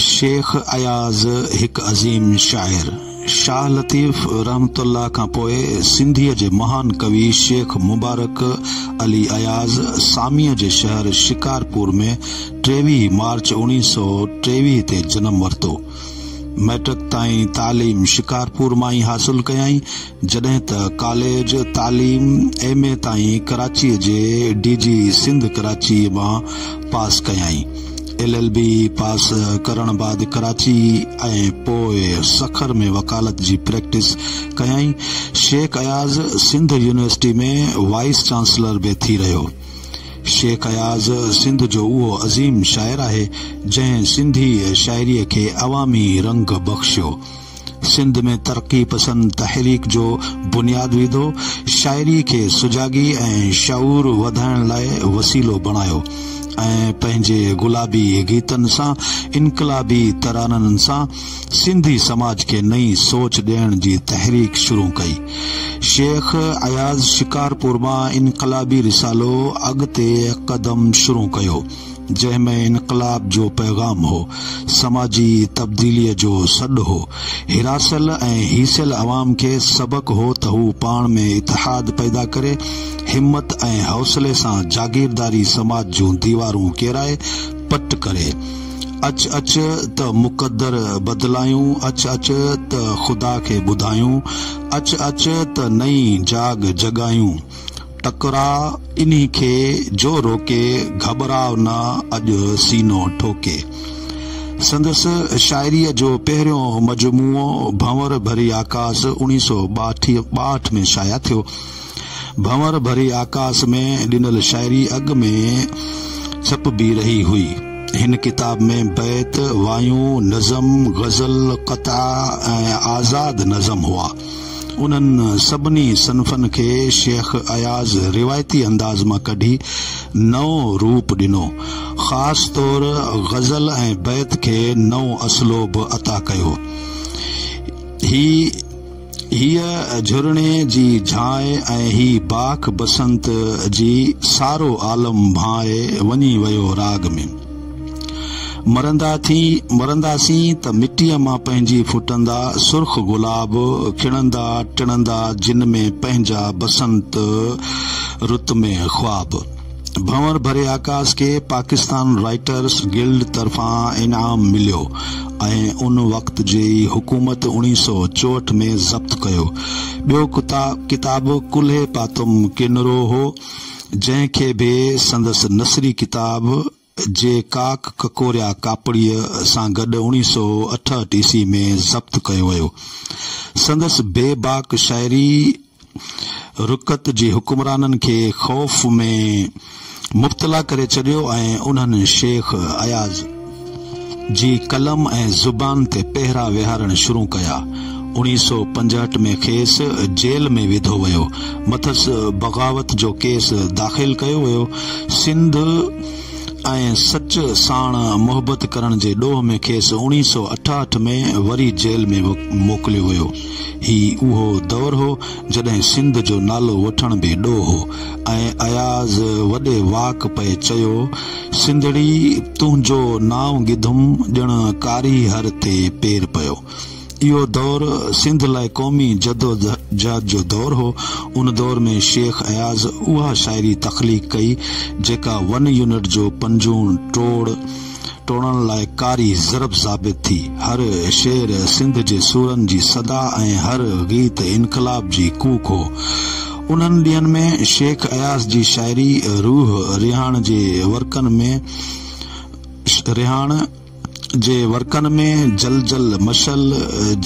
شيخ اياز هڪ عظيم شاعر شاهه لطيف رحمته الله کان پوء سنڌيء جي مهان ڪوي شيخ مبارڪ علي اياز ساميء جي شهر شڪارپور ۾ ٽيويهه مارچ اوڻيهه سؤ ٽيويهه تي جنم ورتو. مئٽرڪ تائين تعليم شڪارپور مان ئي حاصل ڪيائين. جڏهن ته ڪاليج تعليم ايم اي تائين ڪراچيء جي ڊي جي سنڌ ڪراچيء مان پاس ڪيائين. ايل ايل بي پاس ڪرڻ بعد ڪراچي ۽ پوء سکر ۾ وڪالت جي پريڪٽس ڪيائين. Shaikh Ayaz Sindh university ۾ vice chancellor به ٿي رهيو. شيخ اياز سنڌ جو اهو عظيم شاعر آهي، جنهن سنڌي شاعريء کي عوامي رنگ بخشيو. سنڌ ۾ ترقي پسند تحريڪ جو بنياد وڌو، شاعري کي سجاڳي ۽ شعور وڌائڻ لاء وسيلو بڻايو ۽ پنهنجي گلابي گيتن سان، انقلابي ترانن سان سنڌي سماج کي نئين سوچ ڏيڻ جي تحريڪ شروع ڪئي. شيخ اياز شڪارپور مان انقلابي رسالو اڳتي قدم شروع ڪيو. جنهن ۾ انقلاب جو پيغام هو، سماجي تبديليء جو سڏ هو، هراسيل ۽ هيسيل عوام کي سبق هو ته هو پاڻ ۾ اتحاد پيدا ڪري، همت ۽ حوصلي سان جاگيرداري سماج جون ديوارون ڪيرائي پٽ ڪري. اچ اچ ته مقدر بدلايون، اچ اچ ته خدا کي ٻڌايون، اچ اچ ته نئين جاڳ جڳايون. ٽڪرا انهي کي جو روڪي، گهٻراء نه اڄ سينو ٺوڪي. سندس شاعريء جو پهريون مجموعو ڀنور ڀري آڪاس اوڻيهه سؤ ٻاهٺ ۾ شايع ٿيو. ڀنور ڀري آڪاس ۾ ڏنل شاعري اڳ ۾ ڇپبي رهي هئي. هن ڪتاب ۾ بيت، وايون، نظم، غزل، قطعا ۽ آزاد نظم هئا. انهن سڀني صنفن کي شيخ اياز روايتي انداز مان ڪڍي نئون روپ ڏنو. خاص طور غزل ۽ بيت کي نئون اسلوب عطا ڪيو. هي هيء جهرڻي جي جھاء ۽ هي باک بسنت جي سارو عالم ڀانء وڃي ويو راڳ ۾. مرندا ٿي مرنداسين ته مٽيء مان پنهنجي ڦٽندا سرخ گلاب کڻندا ٽڻندا جن ۾ پنهنجا بسنت رت ۾ خواب ڀنور ڀري آڪاس کي پاڪستان رائٽرس گلڊ طرفان انعام مليو ۽ ان وقت جي حڪومت اڻيهه سؤ چوهٺ ۾ ضبط ڪيو ٻيو ڪتاب ڪلهي پاتم ڪينرو هو جنهن کي به سندس نثري ڪتاب جي ڪاڪ ڪڪوريا ڪاپڙيء سان گڏ اوڻيهه سؤ اٺهٺ عيسوي ۾ ضبط ڪيو ويو. سندس بي باڪ شاعري رقت جي حڪمرانن کي خوف ۾ مبتلا ڪري ڇڏيو ۽ انهن شيخ اياز، جي قلم ۽ زبان تي پهرا ويهارڻ شروع ڪيا. اوڻيهه سؤ پنجهٺ ۾ کيس جيل ۾ وڌو ويو. مٿس بغاوت جو ڪيس داخل ڪيو ويو. سنڌ ۽ سچ ساڻ محبت ڪرڻ جي ڏوهه ۾ کيس اوڻيهه سؤ اٺاهٺ ۾ وري جيل ۾ موڪليو ويو. هي اهو دور هو جڏهن سنڌ جو نالو وٺڻ به ڏوهه هو ۽ اياز وڏي واڪ پئي چيو. سنڌڙي تنهنجو نانء گدم ڄڻ ڪاري هر تي پير پيو. اهو دور سنڌ لاء قومي جدوجهد جو دور هو. ان دور ۾ شيخ اياز اها شاعري تخليق ڪئي جيڪا ون يونٽ جو پنجون ٽوڙ ٽوڙڻ لاء ڪاري ضرب ثابت ٿي. هر شعر سنڌ جي سورن جي صدا ۽ هر غيت انقلاب جي ڪوڪ هو. انهن ڏينهن ۾ شيخ اياز جي شاعري روح رهاڻ جي ورقن ۾ رهاڻ جي ورقن ۾ جل جل مشعل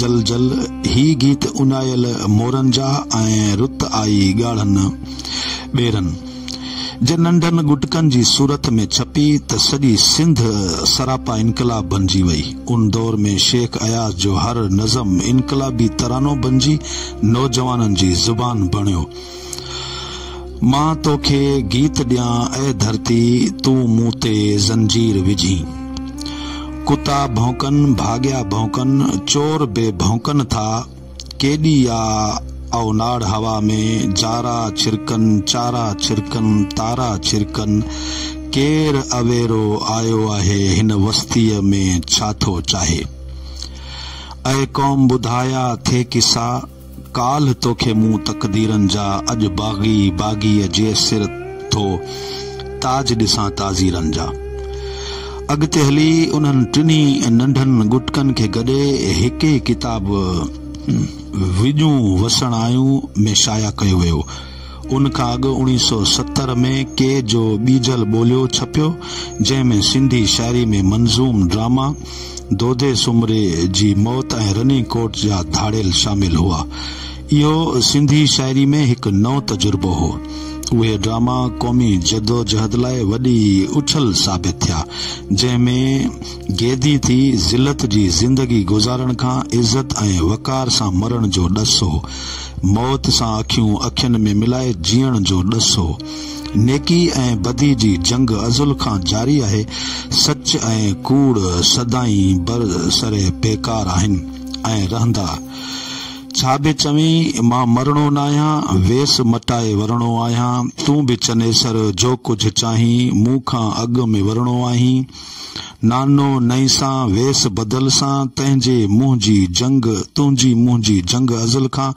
جل جل هي گيت اڃايل مورن جا ۽ رت آئي ڳاڙهن ٻيرن جي ننڍن ڳٽڪن جي صورت ۾ ڇپي ته سڄي سنڌ سراپا انقلاب بنجي وئي ان دور ۾ شيخ اياز جو هر نظم انقلابي ترانو بنجي نوجوانن جي زبان بڻيو. مان توکي گيت ڏيان اي ڌرتي تون مون تي زنجير وجهين. ڪتا ڀونڪن ڀاڳيا ڀونڪن چور به ڀونڪن ٿا ڪيڏي آ اوناڙ هوا ۾ جارا ڇرڪن چارا ڇرڪن تارا ڇرڪن ڪير اويرو آيو آهي هن وستيء ۾ ڇا ٿو چاهي. اي قوم ٻڌايا ٿي قصا، ڪالهه توکي مون تقديرن جا اڄ باغي باغيء جي سر ٿو تاج ڏسان تعزيرن جا. اڳتي هلي انهن ٽنهي ننڍن ڳٽڪن کي گڏي هڪ ئي ڪتاب وڄون وسڻايون ۾ شايع ڪيو ويو. ان کان اڳ اوڻيهه سؤ ستر ۾ ڪي جو ٻيجل ٻوليو ڇپيو، جنهن ۾ سنڌي شاعري ۾ منظوم ڊراما دودي سومري جي موت ۽ رني ڪوٽ جا ڌاڙيل شامل هئا. اهو سنڌي شاعري ۾ هڪ نئون تجربو هو. اهي ڊراما قومي جدوجهد لاء وڏي اڇل ثابت ٿيا، جنهن ۾ گيدي ٿي ذلت جي زندگي گذارڻ کان عزت ۽ وقار سان مرڻ جو ڏس هو. موت سان اکيون اکين ۾ ملائي جيئڻ جو ڏس هو. نيڪي ۽ بدي جي جنگ ازل کان جاري آهي. سچ ۽ ڪوڙ سدائين بر سر پيڪار آهن ۽ رهندا. ڇا به چوين، مان مرڻو ناهيان، ويس مٽائي ورڻو آهيان. تون به چنيسر جو ڪجهه چاهين، مون کان اڳ ۾ ورڻو آهين. نانو نئين سان ويس بدل سان تنهنجي منهنجي جنگ تنهنجي منهنجي جنگ ازل کان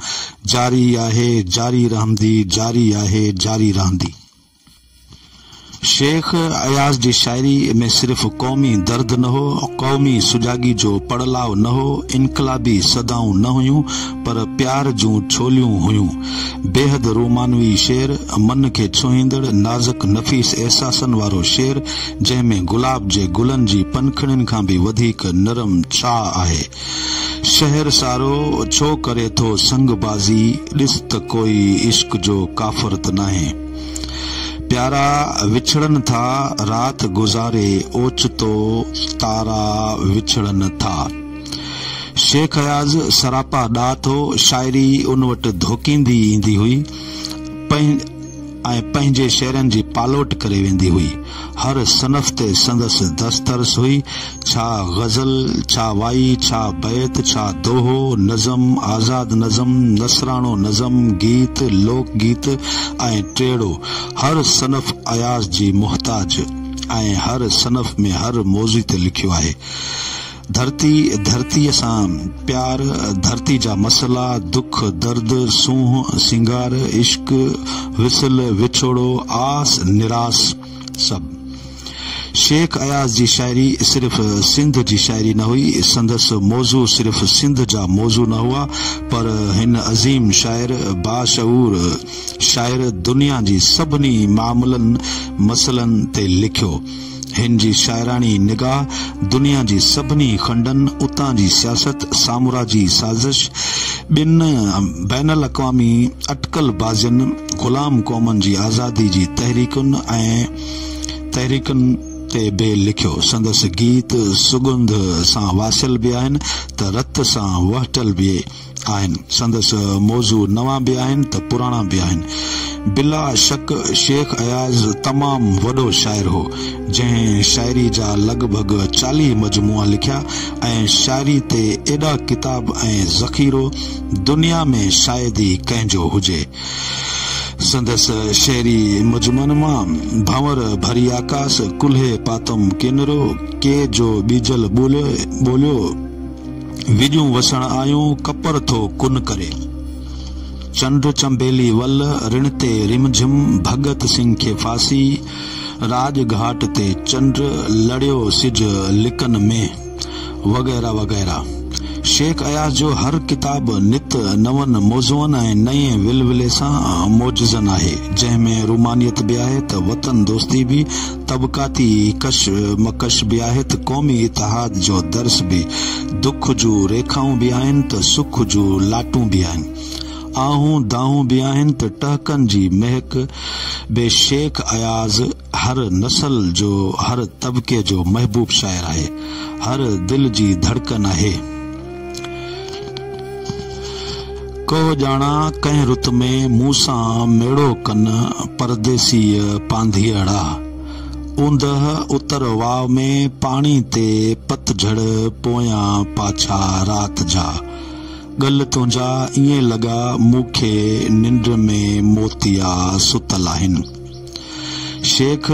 جاري آهي جاري رهندي جاري آهي جاري رهندي. شيخ اياز جي شاعري ۾ صرف قومي درد نه هو، قومي سجاڳي جو پڙ لاء نه هو، انقلابي صدائون نه هيون پر پيار جون ڇوليون هيون. بيحد رومانوي شعر، من کي ڇهيندڙ، نازڪ نفيس احساسن وارو شعر، جنهن ۾ گلاب جي گلن جي پنکڙين کان به وڌيڪ نرم ڇهاء آهي. شهر سارو ڇو ڪري ٿو سنگ بازي، ڏس ته ڪوئي عشق جو ڪافر ته ناهي. پيارا وڇڙن ٿا، رات گذاري اوچتو تارا وڇڙن ٿا. شيخ اياز سراپا ڏات هو، شاعري ان وٽ ڌوڪيندي ايندي هئي ۽ پنهنجي شعرن جي پالوٽ ڪري ويندي هئي. هر صنف تي سندس دسترس هئي، ڇا غزل، ڇا وائي، ڇا بيت، ڇا دوهو، نظم، آزاد نظم، نثراڻو نظم، گيت، لوڪ گيت ۽ ٽيڙو. هر صنف اياز جي محتاج ۽ هر صنف ۾ هر موضوع تي لکيو آهي. ڌرتي ڌرتيء سان پيار، ڌرتي جا مسئلا، دک، درد، سونهن، سينگار، عشق، وصل، وڇوڙو، آس، نراس سڀ. شيخ اياز جي شاعري صرف سنڌ جي شاعري نه هئي، سندس موضوع صرف سنڌ جا موضوع نه هئا پر هن عظيم شاعر، باشعور شاعر دنيا جي سڀني معاملن، مسئلن تي لکيو. هن جي شاعراڻي نگاهه دنيا جي سڀني کنڊن، اتان جي سياست، سامراجي سازش، ٻين بين الاقوامي اٽڪل بازين، غلام قومن جي آزادي جي تحريڪن ۽ تحريڪن تي به لکيو. سندس گيت سڳنڌ سان واسيل به آهن ته رت سان وهٽل به. آهن، سندس موضوع نوان به آهن ته پراڻا به آهن. بلا شڪ شيخ اياز تمام وڏو شاعر هو، جنهن شاعري جا لڳ ڀڳ چاليهه مجموعا لکيا ۽ شاعري تي ايڏا ڪتاب ۽ ذخيرو دنيا ۾ شايد ئي ڪنهن جو هجي. سندس شعري مجموعن مان ڀنور ڀري آڪاس، ڪلهي پاتم ڪينرو، ڪي جو ٻيجل ٻوليو، وڄون وسڻ آيون ڪپر ٿو ڪن ڪري. چنڊ چنبيلي ول رڻ تي رم جھم ڀڳت سنگھ کي ڦاسي راڄ گھاٽ تي چنڊ لڙيو سج لڪن ۾، وغيره وغيره. شيخ اياز جو هر ڪتاب نت نون موضوعن ۽ نئين ولولي سان موجزن آهي، جنهن ۾ رومانيت به آهي ته وطن دوستي به. طبقاتي ڪش مڪش به آهي ته قومي اتحاد جو درس به دک جون ريکائون به آهن ته سک جون لاٽون به آهن آهون دانهون به آهن ته ٽهڪن جي مهڪ به شيخ اياز هر نسل جو هر طبقي جو محبوب شاعر آهي هر دل جي ڌڙڪن آهي. ڪوهه ڄاڻا ڪنهن رت ۾، مون سان ميڙو ڪن پرديسيء پانڌيئڙا. اوندهه اتر واء ۾ پاڻي تي پت جهڙ پويان پاڇا رات جا. ڳل تنهنجا ائين لڳا مون کي ننڊ ۾ موتيا ستل آهن. شيخ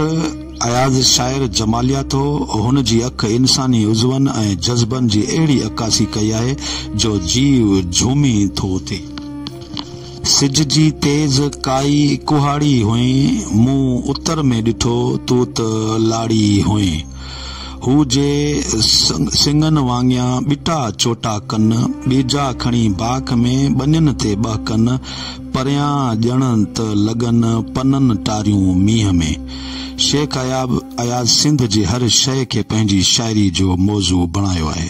اياز شاعر جماليات هو. هن جي اک انساني عضون ۽ جذبن جي اهڙي عڪاسي ڪئي آهي جو جيء جهومي ٿو اٿي. سج جي تيز ڪائي ڪهاڙي هئين، مون اتر ۾ ڏٺو تون ته لاڙي هئين. هو جي سڱن وانگيان ٻٽا چوٽا ڪن، ٻيجا کڻي باک ۾ ٻنين تي ٻهڪن، پريان ڄڻ ته لڳن پنن ٽاريون مينهن ۾. شيخ اياب اياز سنڌ جي هر شيء کي پنهنجي شاعري جو موضوع بڻايو آهي.